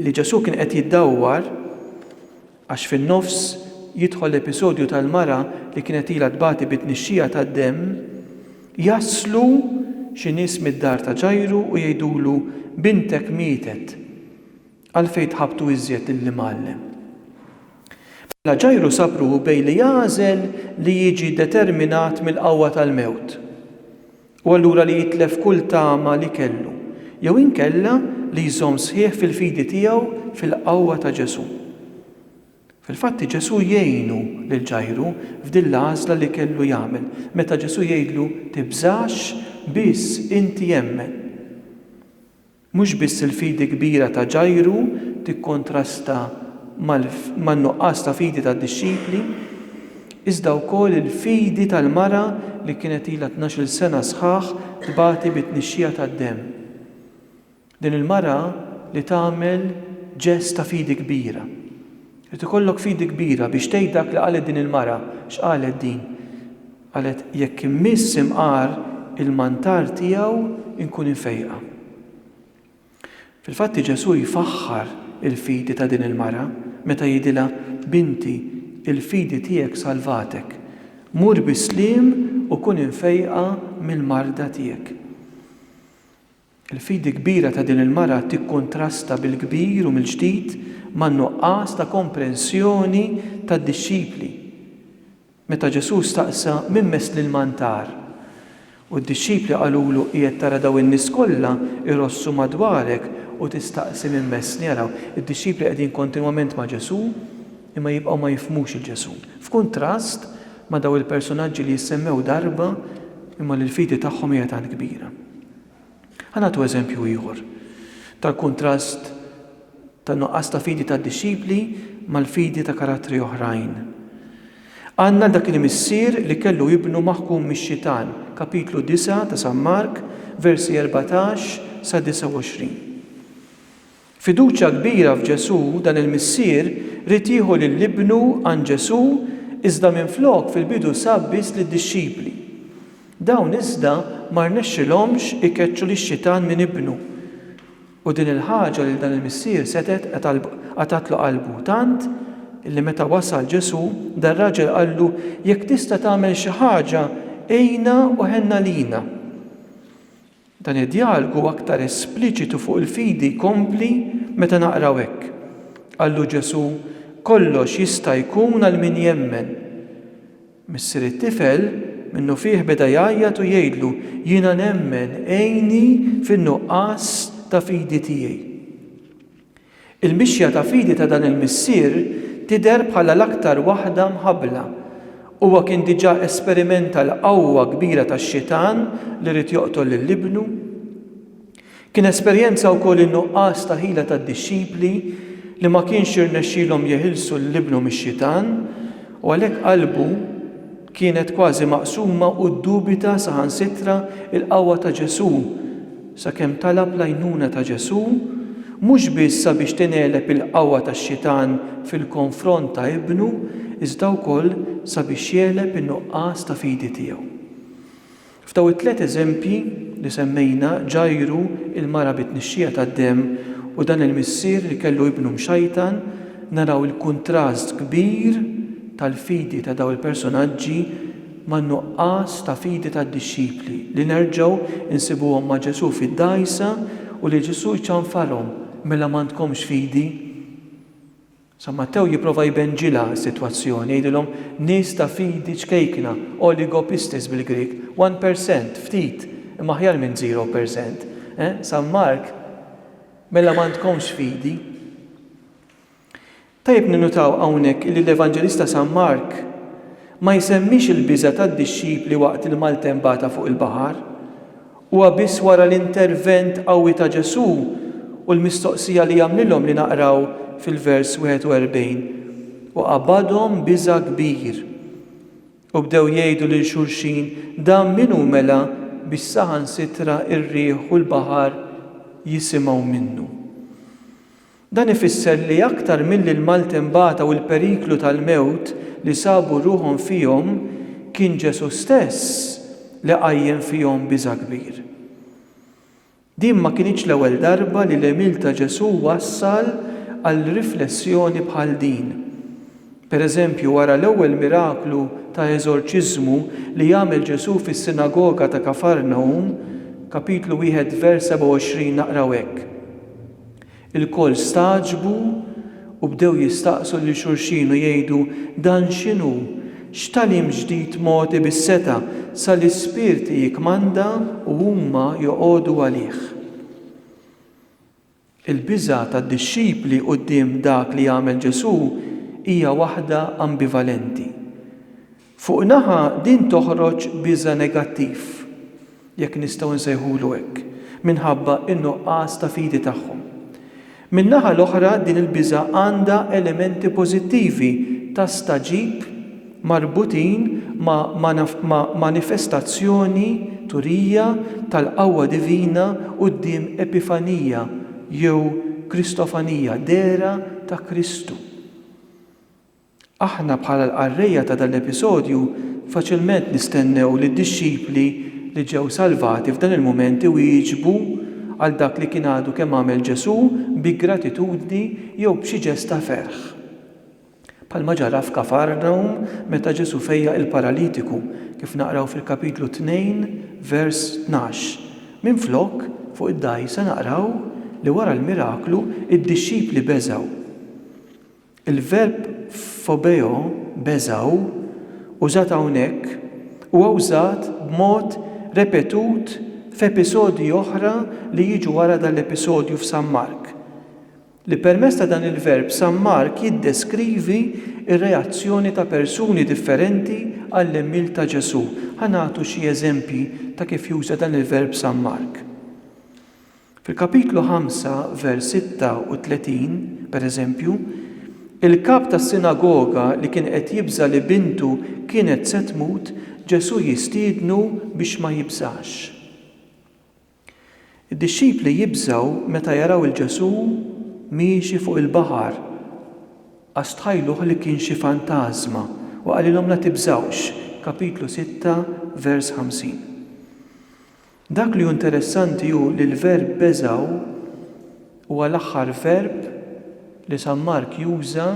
[SPEAKER 1] li Ġesù kien qed jiddawwar, Għax fin-nofs jidħol l-episodju tal-mara li kienet ilha tbati bi tnixxija tad-demm, jaslu xi nies mid-dar ta' Ġajru u jgħidulu, Bintek mietet. Għalfejn tħabbtu iżjed lill-Imgħallem? Mela Ġajru sab ruħu bejn li jagħżel li jiġi determinat mill-qawwa tal-mewt. u allura li jitlef kull tama li kellu, jew inkella li jżomm sħiħ fil-fidi tiegħu fil-qawwa ta' Ġesù. Fil-fatt Ġesù jgħinu lil Ġajru f'din l-għażla li kellu jagħmel meta Ġesù jgħidlu tibżax biss inti emmen. Mhux biss il-fidi kbira ta' Ġajru tikkontrasta man-nuqqas ta' fidi tad-dixxipli, iżda wkoll il-fidi tal-mara li kienet ilha tnax-il sena sħaħ tbati bi tnixxija tad-demm. Din il-mara li tagħmel ġest ta' fidi kbira. Irid ikollok fidi kbira biex tgħid dak li qalet din il-mara. X'qalet din? Qalet, Jekk immiss imqar il-mantar tiegħu nkun imfejqa. Fil-fatti Ġesù jfaħħar il-fidi ta' din il-mara meta jgħidilha, Binti, il-fidi tiegħek salvatek. Mur bi sliem u kun imfejqa mill-marda tiegħek. Il-fidi kbira ta' din il-mara tikkuntrasta bil-kbir u mill-ġdid man-nuqqas ta' komprensjoni tad-dixxipli. Meta Ġesù staqsa min mess l-ilmantar, u d-dixxipli qalulu qiegħed tara dawn in-nies kollha jrossu madwarek u tistaqsi min messni, araw, id-dixxipli qegħdin kontinwament ma' Ġesù, imma jibqgħu ma jifhmux 'il Ġesù. F'kuntrast ma' dawn il-persunaġġi li jissemmew darba imma li l-fidi tagħhom hija tant kbira. Ħa nagħtu eżempju ieħor tal-kuntrast ta' nuqqas ta' fidi tad-dixxipli mal-fidi ta' karattri oħrajn. Għandna dak il-missier li kellu ibnu maħkum mix-xitan, kapitlu 9 ta' San Mark, versi 14 sa 29. Fiduċja kbira f'Ġesù, dan il-missier ried jieħu lil ibnu għand Ġesù iżda minflok fil-bidu sab biss lid-dixxipli. Dawn iżda ma rnexxilhomx ikeċċu lix-xitan minn ibnu. U din il-ħaġa lil dan il-missier setgħet qatgħatlu qalbu tant li meta wasal Ġesù, dar-raġel qallu, Jekk tista' tagħmel xi ħaġa, għinna u ħenna lina. Dan id-djalogu aktar espliċitu fuq il-fidi jkompli meta naqraw hekk, Qallu Ġesù, Kollox jista' jkun għal min jemmen. Missier it-tifel minnufih beda jgħajjat u jgħidlu, Jiena nemmen, għinni fin-nuqqas ta' fidi tiegħi. Il-mixja ta' fidi ta' dan il-missier tidher bħala l-aktar waħda mħabbla. Huwa kien diġà esperimenta l-qawwa kbira tax-Xitan li ried joqtol lil Ibnu. Kien esperjenza wkoll in-nuqqas ta' ħila tad-dixxipli li ma kienx irnexxielhom jeħilsu lil Ibnu mix-Xitan, u għalhekk qalbu, Kienet kważi maqsuma u ddubita saħansitra l-qawwa ta' Ġesù, sakemm talab l-għajnuna ta' Ġesù, mhux biss sabiex tingħeleb il-qawwa tax-Xitan fil-konfront ta' Ibnu, iżda wkoll sabiex jegħleb in-nuqqas ta' fidi tiegħu. F'daw it-tliet eżempji li semmejna Ġajru, il-mara bi tnixxija tad-demm u dan il-missier li kellu ibnu mxajtan, naraw il-kuntrast kbir tal-fidi ta' daw il-personaġġi man-nuqqas ta' fidi tad-dixxipli li nerġgħu nsibuhom ma' Ġesù fid-dgħajsa u li Ġesù jċanfarhom, Mela m'għandkomx fidi? San Mattew jipprova jbenġilha s-sitwazzjoni, jgħidilhom, Nies ta' fidi ċkejkna, oligo pistis bil-Grieg, one per cent, ftit, imma aħjar minn zero per cent. Eh, San Mark, mela m'għandkomx fidi? Tajjeb ninnutaw hawnhekk illi l-Evanġelista San Mark ma jsemmix il-biża' tad-dixxipli waqt il-maltempata fuq il-baħar, Huwa biss wara l-intervent qawwi ta' Ġesù u l-mistoqsija li għamlilhom li naqraw fil-vers 41, U qabadhom biża' kbir, u bdew jgħidu lil xulxin, Dan min hu mela biex saħansitra r-riħ u l-baħar jisimgħu minnu? Dan ifisser li aktar milli l-maltembata u l-periklu tal-mewt li sabu ruħhom fihom, kien Ġesù stess li qajjem fihom biża' kbir. Din ma kinitx l-ewwel darba li l-għemil ta' Ġesù wassal għal riflessjoni bħal din. Pereżempju, wara l-ewwel miraklu ta' eżorċiżmu li għamel Ġesù fis-sinagoga ta' Kafarnawm, Kapitlu 1 vers 27 naqraw hekk, Ilkoll stagħġbu u bdew jistaqsu lil xulxin u jgħidu, Dan x'inhu? X'tagħlim ġdid mogħti bis-setgħa sa li spirti jikkmanda u huma joqogħdu għalih? Il-biża' tad-dixxipli quddiem dak li għamel Ġesù hija waħda ambivalenti. Fuq naħa din toħroġ biża' negattiv, jekk nistgħu nsejħulu hekk, minħabba n-nuqqas ta' fidi tagħhom. Min-naħa l-oħra din il-biża' għandha elementi pożittivi ta' stagħġib marbutin ma' ma' manifestazzjoni, turija, tal-qawwa divina quddiem epifanija jew kristofanija, dehra ta' Kristu. Aħna bħala l-qarrejja ta' dan l-episodju faċilment nistennew li d-dixxipli li ġew salvati f'dan il-mument iwieġbu għal dak li kien għadu kemm għamel Ġesù bi gratitudni jew b'xi ġest ta' ferħ. Bħalma ġara f'Kafarnawm meta Ġesù fejjaq il-paralitiku, kif naqraw fil-Kapitlu 2, vers 12. Minflok, fuq id-dgħajsa naqraw li wara l-miraklu d-dixxipli beżgħu. Il-verb phobeo, beżgħu, użat hawnhekk huwa wżat b'mod repetut f'episodji oħra li jiġu wara dan l-episodju f'San Mark, li permezz ta' dan il-verb San Mark jiddeskrivi r-reazzjoni ta' persuni differenti għall-għemil ta' Ġesù. Ħa nagħtu xi eżempji ta' kif juża dan il-verb San Mark. Fil-Kapitlu 5, vers 36, pereżempju, il-kap tas-sinagoga li kien qed jibża' li bintu kienet se tmut, Ġesù jistiednu biex ma jibżax. Id-dixxipli jibżgħu meta jaraw 'il Ġesù miexi fuq il-baħar għax tħajluh li kien xi fantażma u qalilhom la tibżgħux, Kapitlu 6, vers 50. Dak li hu interessanti hu li l-verb beżgħu huwa l-aħħar verb li San Mark juża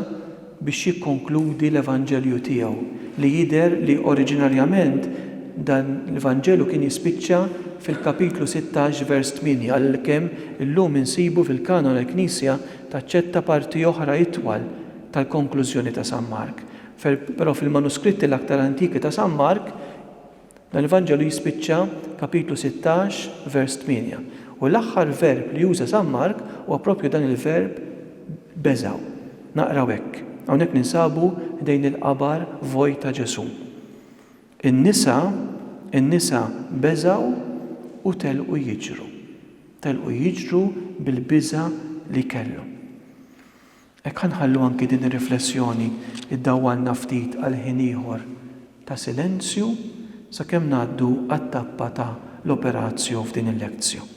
[SPEAKER 1] biex jikkonkludi l-Evanġelju tiegħu, li jidher li oriġinarjament dan l-Vanġelu kien jispiċċa fil-kapitlu sittax vers tmieni, għalkemm illum insibu fil-Kanon il-Knisja taċċetta parti oħra itwal tal-konklużjoni ta' San Mark, però fil-manuskritti l-aktar antiki ta' San Mark, Dan l-Evanġelju jispiċċa kapitlu 16, vers 8, u l-aħħar verb li juża San Mark huwa proprju dan il-verb beżgħu. Naqraw hekk, Hawnhekk ninsabu ħdejn il-qabar vojt ta' Ġesù. In-nisa, in-nisa beżgħu u telqu jiġru. Telqu jiġru bil-biża' li kellhom. Hekk ħa nħallu anki din ir-riflessjoni ddawwalna ftit għal ħin ieħor ta' silenzju sakemm ngħaddu għat-tappa ta' l-Operatio f'din il-Lectio.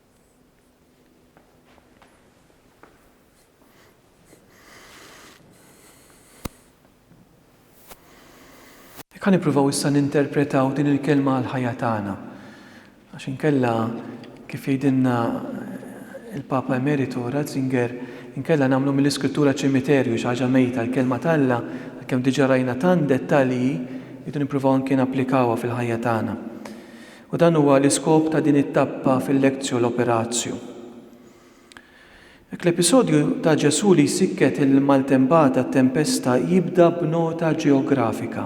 [SPEAKER 1] Jekk ħa nippruvaw issa ninterpretaw din il-kelma għal ħajja tagħna, għax inkella kif jgħidilna eh, il-Papa Emeritu Ratzinger, inkella nagħmlu mill-iskrittura ċimiterju xi ħaġa mejta l-kelma t'Alla, għalkemm diġà rajna tant dettalji, jridu nippruvaw anke napplikawha fil-ħajja tagħna. U dan huwa l-iskop ta' din it-tappa fil-lectio l-operatio. Hekk l-episodju ta' Ġesù li jsikket il-maltempata, t-tempesta, jibda b'nota ġeografika.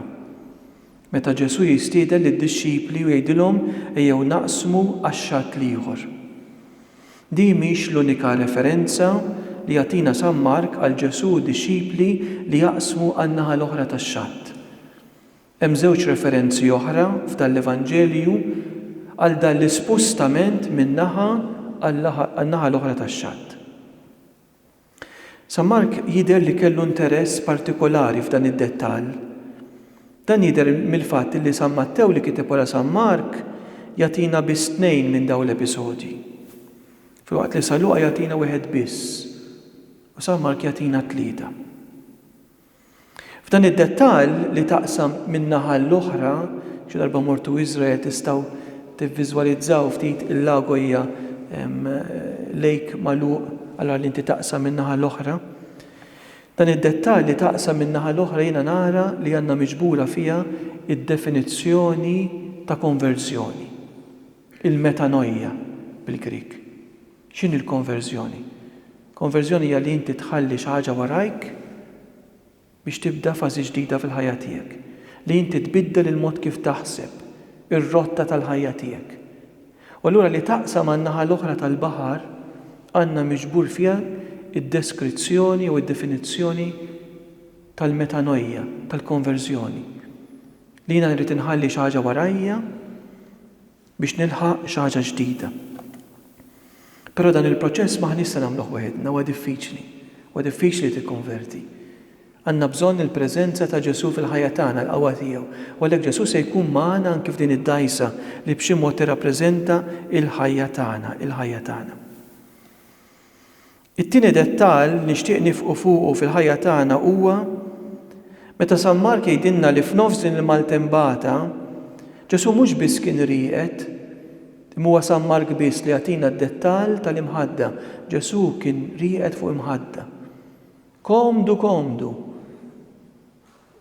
[SPEAKER 1] Meta Ġesù jistieden lid-dixxipli u jgħidilhom ejjew naqsmu għax-xatt l-ieħor. Din mhix l-unika referenza li jagħtina San Mark għal Ġesù u d-dixxipli li jaqsmu għan-naħa l-oħra tax-xatt. Hemm żewġ referenzi oħra f'dan l-Evanġelju għal dan l-ispustament minn naħa għan-naħa l-oħra tax-xatt. San Mark jidher li kellu interess partikolari f'dan id-dettall. Dan jidher mill-fatt li San Mattew li kiteb wara San Mark jagħtina biss tnejn minn dawn l-episodji, filwaqt li San Luqa jagħtina wieħed biss u San Mark jagħtina tlieta. F'dan id-dettall li taqsam min-naħa għall-oħra, xi darba mortu Iżrael tistgħu tivviżwalizzaw ftit il-lago hija lake magħluq allura li inti taqsam min-naħa l-oħra. Dan id-dettall li taqsam min-naħa l-oħra jiena nara li għandna miġbura fiha d-definizzjoni ta' konverżjoni, il-metanoia bil-Grieg. X'inhi l-konverżjoni? Konverżjoni hija li inti tħalli xi ħaġa warajk biex tibda fażi ġdida fil-ħajja tiegħek, li inti tbiddel il-mod kif taħseb, ir-rotta tal-ħajja tiegħek. U allura li taqsam għan-naħa l-oħra tal-baħar għandna miġbur fiha d-deskrizzjoni jew id-definizzjoni tal-metanoia, tal-konverżjoni. Li jiena nrid inħalli xi ħaġa warajja biex nilħaq xi ħaġa ġdida. Però dan il-proċess m'aħniex se nagħmluh waħedna, huwa diffiċli. Huwa diffiċli tikkonverti. Għandna bżonn il-preżenza ta' Ġesù fil-ħajja tagħna, l-qawwa tiegħu. U għalhekk Ġesù se jkun magħna anki f'din id-dgħajsa li b'xi mod tirrappreżenta l-ħajja tagħna, il-ħajja tagħna. It-tieni dettall nixtieq niefqu fuqu fil-ħajja tagħna huwa meta San Mark jgħidilna li f'nofs din il-maltembata, Ġesù mhux biss kien rieqed, imma huwa San Mark biss li jagħtina d-dettall tal-imħadda, Ġesù kien rieqed fuq imħadda. Komdu komdu.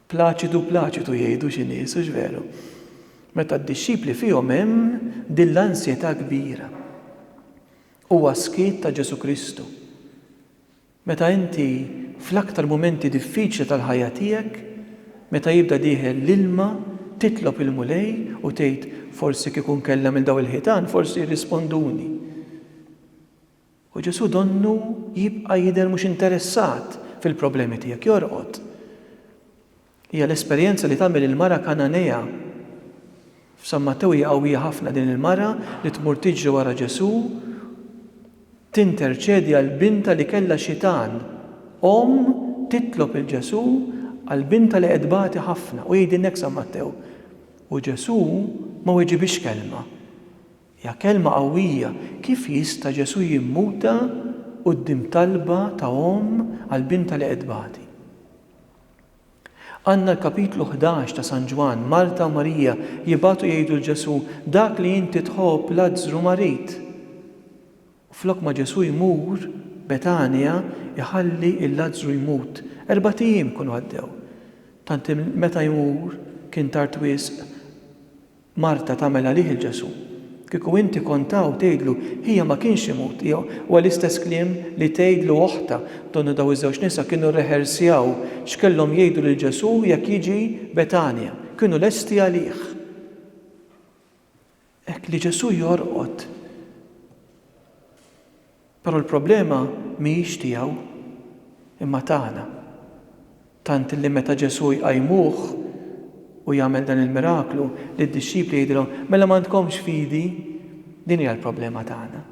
[SPEAKER 1] Plaċidu plaċitu jgħidu xi nies, hux veru? Meta d-dixxipli fihom hemm din l-ansjetà kbira. Huwa s-skiet ta' Ġesù Kristu. Meta inti fl-aktar mumenti diffiċli tal-ħajja tiegħek, meta jibda dieħel l-ilma, titlob il-Mulej u tgħid, Forsi kieku nkellem 'il dawn il-ħitan, forsi jirrisponduni. U Ġesù donnu jibqa' jidher mhux interessat fil-problemi tiegħek, jorqod. Hija l-esperjenza li tagħmel il-mara Kananea. F'San Mattew hija qawwija ħafna din il-mara li tmur tiġri wara Ġesù, tinterċedi għal bintha li kellha xitan. Omm titlob 'il Ġesù għal bintha li qed tbati ħafna u jgħidilna hekk San Mattew, U Ġesù ma weġibhiex kelma. Hija kelma qawwija. Kif jista' Ġesù jimmuta quddiem talba ta' omm għal bintha li qed tbati? Għandna l-kapitlu ħdax ta' San Ġwann, Marta u Marija jibagħtu jgħidu 'l Ġesù, Dak li inti tħobb Lazzru marid. U flok ma Ġesù jmur Betanja jħalli 'l Lazzru jmut. Erbat ijiem ikunu għaddew. Tant li meta jmur kien tard wisq. Marta tagħmel għalih il Ġesù. Kieku inti kont hawn tgħidlu ħija ma kienx imut ħija huwa l-istess kliem li tgħidlu oħtha. Donnu daw iż-żewġ nisa kienu rrehersjaw x'kellhom jgħidu lil Ġesù jekk jiġi Betanja. Kienu lesti għalih. Hekk li Ġesù jorqod. Però l-problema mhijiex tiegħu, imma tagħna. Tant li meta Ġesù jqajmuh u jagħmel dan il-miraklu, lid-dixxipli jgħidilhom, Mela m'għandkomx fidi? Din hija l-problema tagħna.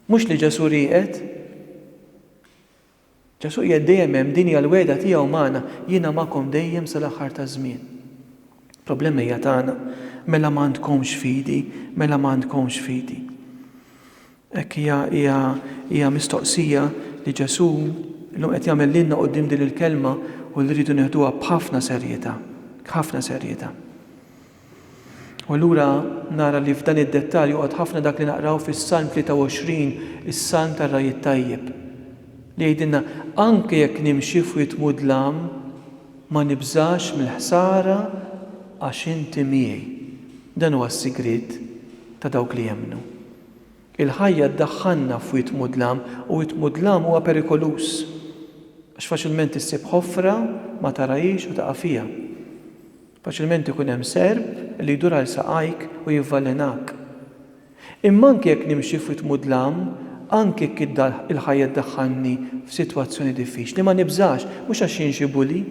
[SPEAKER 1] Mhux li Ġesù rieqed. Ġesù qiegħed dejjem hemm, din hija l-wegħda tiegħu magħna, jiena magħkom dejjem sal-aħħar taż-żmien. Il-problema hija tagħna, mela m'għandkomx fidi, mela m'għandkomx fidi. Hekk hija hija hija mistoqsija li Ġesù llum qed jagħmel lilna quddiem din il-kelma u li rridu nieħduha b'ħafna serjetà, b'ħafna serjetà. U allura nara li f'dan id-dettall joqgħod ħafna dak li naqraw fis-Salm 23, is-Salm tar-Ragħaj it-Tajjeb, li jgħidilna, Anke jekk nimxi f'wied mudlam, ma nibżax mill-ħsara għax inti miegħi. Dan huwa s-sigriet ta' dawk li jemmnu. Il-ħajja ddaħħalna f'wied mudlam u wied mudlam huwa perikoluż, għax faċilment issib ħofra ma tarahiex u taqa' fiha. Faċilment ikun hemm serp li jdur għal saqajk u jivvalenak. Imma anki jekk nimxi f'wied mudlam, anki jekk il-ħajja ddaħħalni f'sitwazzjoni diffiċli, ma nibżax, mhux għax jien xi bully,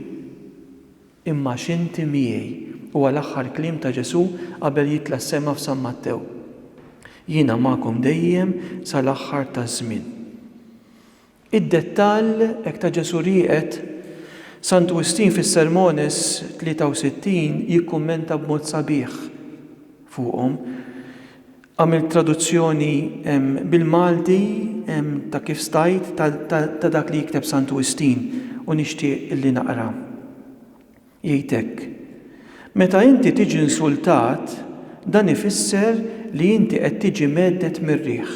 [SPEAKER 1] imma għax inti miegħi, huwa l-aħħar kliem ta' Ġesù qabel jitla' s-sema f'San Mattew. Jiena magħkom dejjem sal-aħħar taż-żmien. Id-dettall hekk ta Ġesù rieqed, San Wistin fis-Sermones 63 jikkummenta b'mod sabiħ fuqhom. Għamilt traduzzjoni bil-Malti ta' kif stajt ta' dak li jikteb San Wistin u nixtieq li naqra. Jgħid hekk, Meta inti tiġi insultat, dan ifisser li inti qed tiġi mgħedded mir-riħ.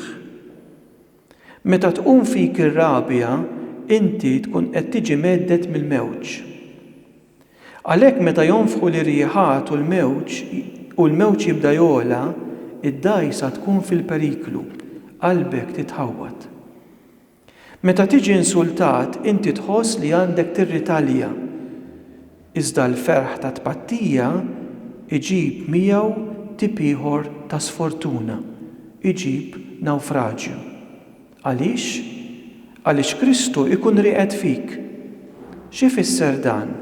[SPEAKER 1] Meta tqum fik ir-rabja, inti tkun qed tiġi mhedded mill-mewġ. Għalhekk meta jonfħu l-irjiħat u l-mewġ u l-mewġ jibda jogħla, id-dgħajsa tkun fil-periklu, qalbek titħawwad. Meta tiġi insultat, inti tħoss li għandek tirritalja. Iżda l-ferħ tat-tpattija jġib miegħu tip ieħor ta' sfortuna, iġib nawfraġju. Għaliex? Għaliex Kristu jkun rieqed fik. X'ifisser dan?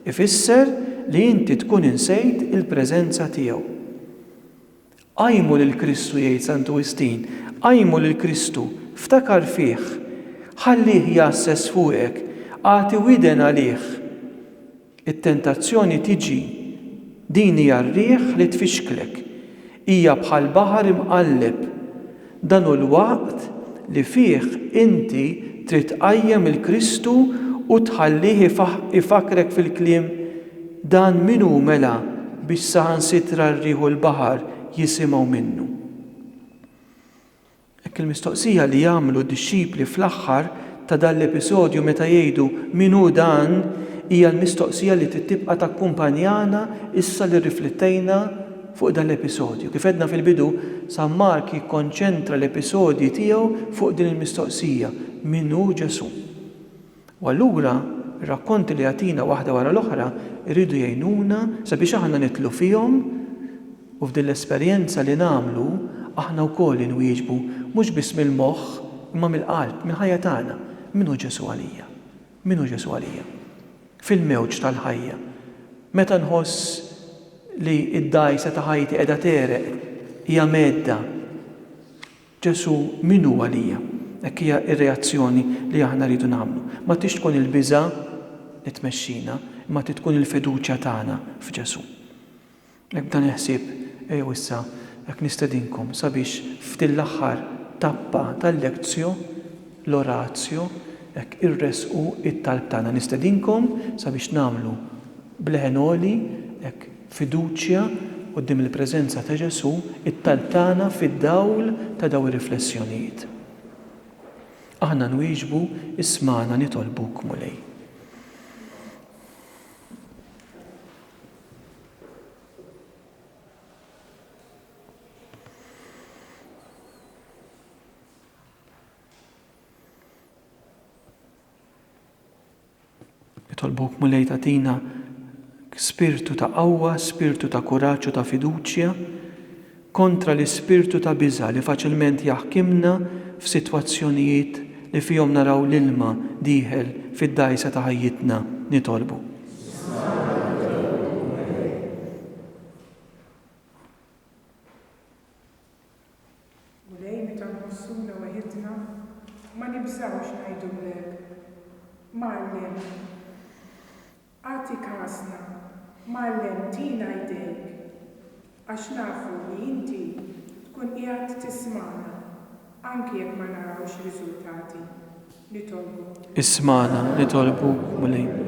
[SPEAKER 1] Ifisser li inti tkun insejt il-preżenza tiegħu. Qajmu lil Kristu jgħid Santu Wistin, qajmu lil Kristu, ftakar fih, ħallih jgħasses fuqek, agħti widen għalih. It-tentazzjoni tiġi, din hija r-riħ li tfixklek, hija bħall-baħar imqalleb, Dan hu l-waqt li fih inti trid tqajjem il-Kristu u tħallih ifakkrek fil-kliem, Dan min hu mela biex saħansitra r-riħ u l-baħar jisimgħu minnu? Hekk il-mistoqsija li jagħmlu d-dixxipli fl-aħħar ta' dan l-episodju meta jgħidu Min hu dan? hija l-mistoqsija li trid tibqa' takkumpanjana issa li rriflettejna fuq dan l-episodju. Kif għedna fil-bidu, San Mark jikkonċentra l-episodji tiegħu fuq din il-mistoqsija, Min hu Ġesù? U allura, ir-rakkonti li jagħtina waħda wara l-oħra jridu jgħinuna sabiex aħna nidħlu fihom u f'din l-esperjenza li nagħmlu aħna wkoll inwieġbu mhux biss mill-moħħ imma mill-qalb, mill-ħajja tagħna, Min hu Ġesù għalija? Min hu Ġesù għalija? Fil-mewġ tal-ħajja, meta nħoss li d-dgħajsa ta' ħajti qiegħda tegħreq, hija mhedda, Ġesù min hu għalija? Hekk hija r-reazzjoni li aħna rridu nagħmlu. Ma tridx tkun il-biża' li tmexxina, imma trid tkun il-fiduċja tagħna f'Ġesù. B'hekk dan il-ħsieb, ejjew issa hekk nistedinkom sabiex f'din l-aħħar tappa tal-lectio, l-oratio, hekk irressqu t-talb tagħna. Nistedinkom sabiex nagħmlu b'leħen għoli, hekk b'fiduċja quddiem il-preżenza ta' Ġesù, it-talb tagħna fid-dawl ta' dawn ir-riflessjonijiet. Aħna nwieġbu, ismagħna nitolbuk, Mulej. Nitolbuk mulej tatina spirtu ta' qawwa, spirtu ta' kuraġġ u ta' fiduċja kontra l-ispirtu ta' biża' li faċilment jaħkimna f'sitwazzjonijiet li fihom naraw l-ilma dieħel fid-dgħajsa ta' ħajjitna, nitolbu. Mulej, meta nħossuna weħidna, ma nibżgħux ngħidulek, Mgħallem! Agħti kasna, Mgħallem tina jdejk, għax nafu li inti tkun qiegħed tismagħna anki jekk ma narawx riżultati. Nitolbuk. Ismagħna, nitolbuk, Mulej.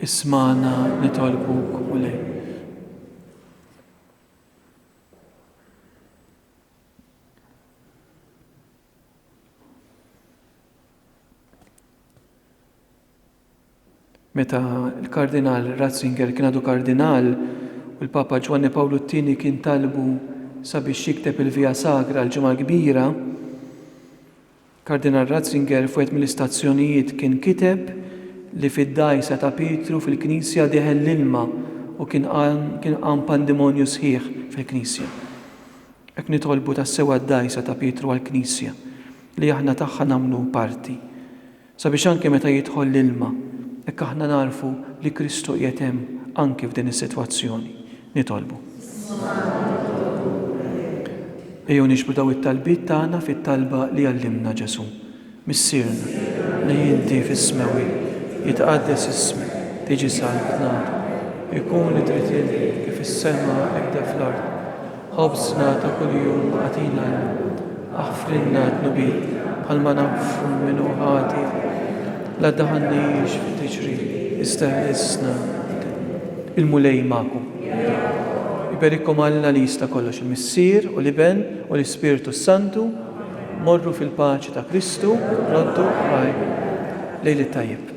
[SPEAKER 1] Ismagħna nitolbuk, Mulej. Meta l-Kardinal Ratzinger kien għadu Kardinal u l-Papa Ġwanni Pawlu t-Tieni kien talbu sabiex jikteb il-Via Sagra l-Ġimgħa l-Kbira, Kardinal Ratzinger f'wieħed mill-istazzjonijiet kien kiteb li fid-dgħajsa ta' Pietru fil-Knisja deħel l-ilma u kien kien qam pandimonju sħiħ fil-Knisja. Hekk nitolbu tassew għad-dgħajsa ta' Pietru għall-Knisja, li aħna tagħha nagħmlu parti, sabiex anke meta jidħol l-ilma, hekk aħna nagħrfu li Kristu qiegħed hemm anki f'din is-sitwazzjoni. Nitolbu. Ejjew nixbhu dawn it-talbiet tagħna fit-talba li għallimna Ġesù, Missierna li inti fis-Smewwiet, jitqaddes ismek, tiġi saltnata, ikun id-dritt tiegħek kif fis-sema hekk fl-art. Ħobżna ta' kuljum agħtina llum. Aħfrilna d-dnubiet bħalma nagħfu min hu ħati, la ddaħħalniex fi tiġri, iżda ħlisna b'din. Il-Mulej magħkom. Jiberikom Alla li jista' kollox, il-Missier u l-Iben u l-Ispirtu s-Santu. Morru fil-paċi ta' Kristu, roddu ħajr. Lejl it-tajjeb.